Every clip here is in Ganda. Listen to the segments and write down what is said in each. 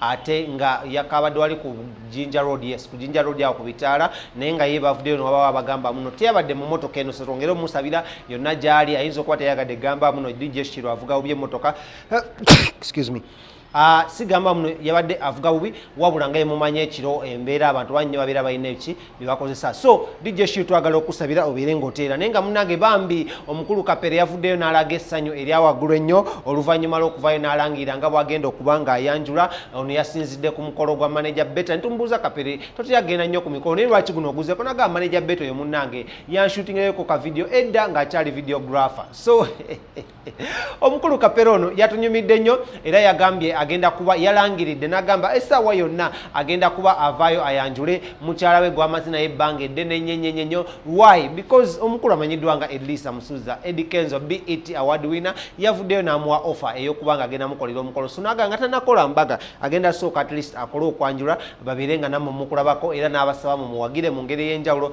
ate nga yakabadde wali ku jinja road yes ku jinja road awo ku bitaala naye nga ye bavuddeyo newaba abagamba muno teyabadde mu motoka eno setwongere omusabira yonna gyali ayinza okuba teyagadde gamba muno dijeshiro avuga bubi emotoka excuse me Ah, sigamba muno yabadde avuga bubi wabula nga yemumanya ekiro embeera abantu bannyo babeera balina eki byebakozesa so dj shiu twagala okusabira obeere ngaoteera naye nga munange bambi omukulu kapere yavuddeyo n'alaga essanyu erya waggulu ennyo oluvannyuma lw'okuvayo n'alangira nga bwagenda okuba ng'ayanjula ono yasinzidde ku mukolo gwa maneja beta nitumubuuza kapere toteyagenda nnyo ku mikolo naye lwaki guno oguzeko naga maneja beta oyo munange yanshutingeyo ku kavidiyo edda ng'akyali videographer so omukulu kapera ono yatunyumidde nnyo era yagambye agenda kuba yalangiridde n'agamba essaawa yonna agenda kuba avaayo ayanjule mukyala we gwamaze naye ebbanga eddene nnyenyenyenyo why because omukulu amanyiddwa nga elisa musuza edi kenzo bet award winner yavuddeyo n'amuwa offer ey'okuba nga agenda mukolera omukolo sunaga nga tanakola mbaga agenda sooka at least akole okwanjula babeere nga nammwe mukulabako era n'abasaba mumuwagire mu ngeri ey'enjawulo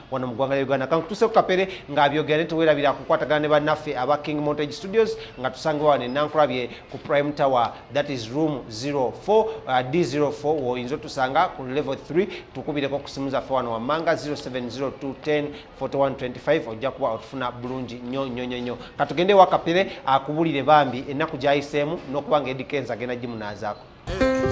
wano mu ggwanga lya uganda kankutuse ku kapere ng'abyogera ne tewerabira kukwatagana ne bannaffe aba king montage studios nga tusangibwa wano enankulabye ku prime tower that is room 04 uh, d04 woyinza otusanga ku level 3 tukubireko ku simu zaffe wano wammanga 0702104125 ojja kuba otufuna bulungi nnyo nnyo nnyo nnyo katugende ewa kapere akubulire bambi ennaku gyayiseemu n'okuba nga edikenza agenda gimunaazaako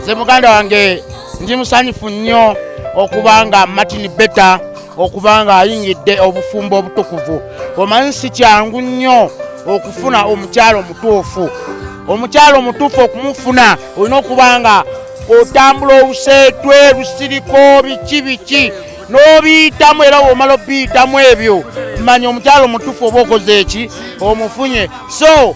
nze muganda wange ndi musanyufu nnyo okuba nga martin beta okuba nga ayingidde obufumbo obutukuvu omanyi si kyangu nnyo okufuna omukyalo omutuufu omukyalo omutuufu okumufuna olina okuba nga otambula obuseetwe busiriko biki biki n'obiyitamu era womala obiyitamu ebyo manya omukyalo omutuufu oba okoze eki omufunye so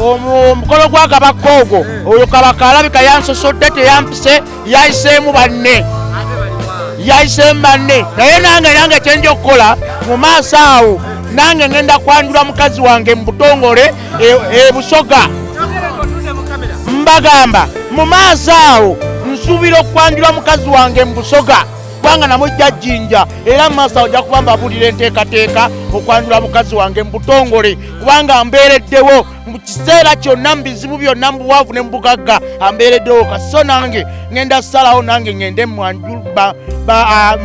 omukolo gwa kabaka ogwo eh. oyo kabaka alabika yansosodde teyampise yayiseemu banne yayiseemu banne naye nange nange kyenja okukola mu maaso awo nange ngenda kwanjula mukazi wange mu butongole ebusoga e mbagamba mu maaso awo nsuubira okwanjula mukazi wange mu busoga kubanga namujja jjinja era mu maaso awo ojja kuba mbabuulira enteekateeka okwanjula mukazi wange mu butongole kubanga ambeereddewo mu kiseera kyonna mu bizibu byonna mu buwanvu ne mu bugagga ambeereddewo kaso nange ŋenda salawo nange ŋende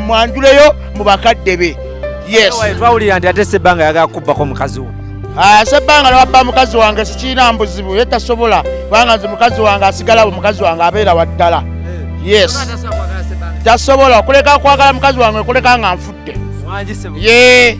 mwanjuleyo mu bakadde be yestwawulira nti ate sebbanga yagala kubbako mukazi wo ah, sebbanga newabba mukazi wange sikiina mbuzibu ye tasobola kubanga nze mukazi wange asigalawo mukazi wange abeera waddala eh. yes tasobola okuleka kwagala mukazi wange okuleka nga nfudde ye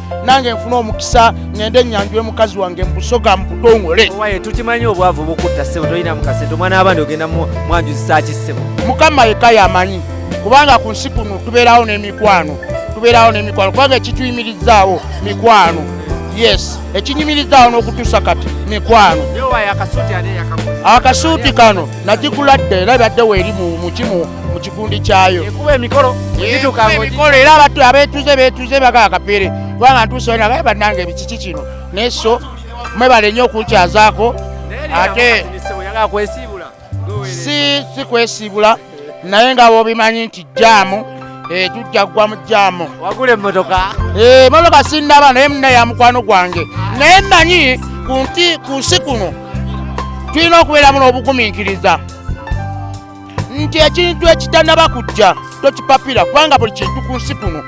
nange nfuna omukisa ngende enyanjule mukazi wange mubusoga mubutongole owaye tukimanyi obwavu bukutta sebo tolina mukasente omwana wabandi ogenda mwanjuzisaki sebo mukama yeka yamanyi kubanga ku nsi kuno tubeerawo n'emikwano tubeerawo n'emikwano kubanga ekituyimirizaawo mikwano yes ekinyimirizaawo n'okutuusa kati mikwano akasuuti kano nagigula dda era ebadde weeri mukimu mu kikundi kyayo ekuba emikolo emikolo era abatu abeetuze beetuze baga akapeere kubanga ntuusa wena baye bannange ebikiki kino naye so mwebale nnyo okunkyazaako ate si si kwesiibula naye nga bobimanyi nti jaamu eh, tujja kugwa mu jaamu wagula emmotoka eh, emmotoka sinnaba naye muna ya mukwano gwange naye mmanyi ku nsi kuno tulina okubeeramu n'obugumiikiriza nti ekintu ekitanaba kujja tokipapira kubanga buli kintu ku nsi kuno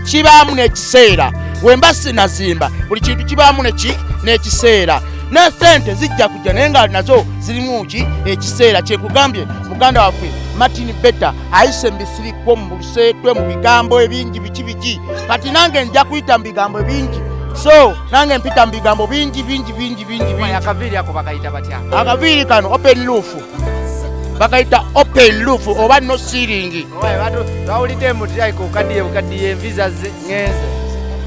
kibaamu n'ekiseera wemba sinazimba buli kintu kibaamu neki n'ekiseera ne sente zijja kujja naye nga nazo zirimu ki ekiseera kyekugambye muganda waffe martin beta ayise mbisirikwo mu luseetwe mu bigambo ebingi biki biki kati nange nja kuyita mu bigambo ebingi so nange mpita mu bigambo bingi bingi bingi bingi bingi. akaviiri ako bakayita batya akaviiri kano open roof bakayita open roof oba no ceiling Owaye, batu- bawulidde mutyaika okaddiye bukaddiye envi zazze ngenze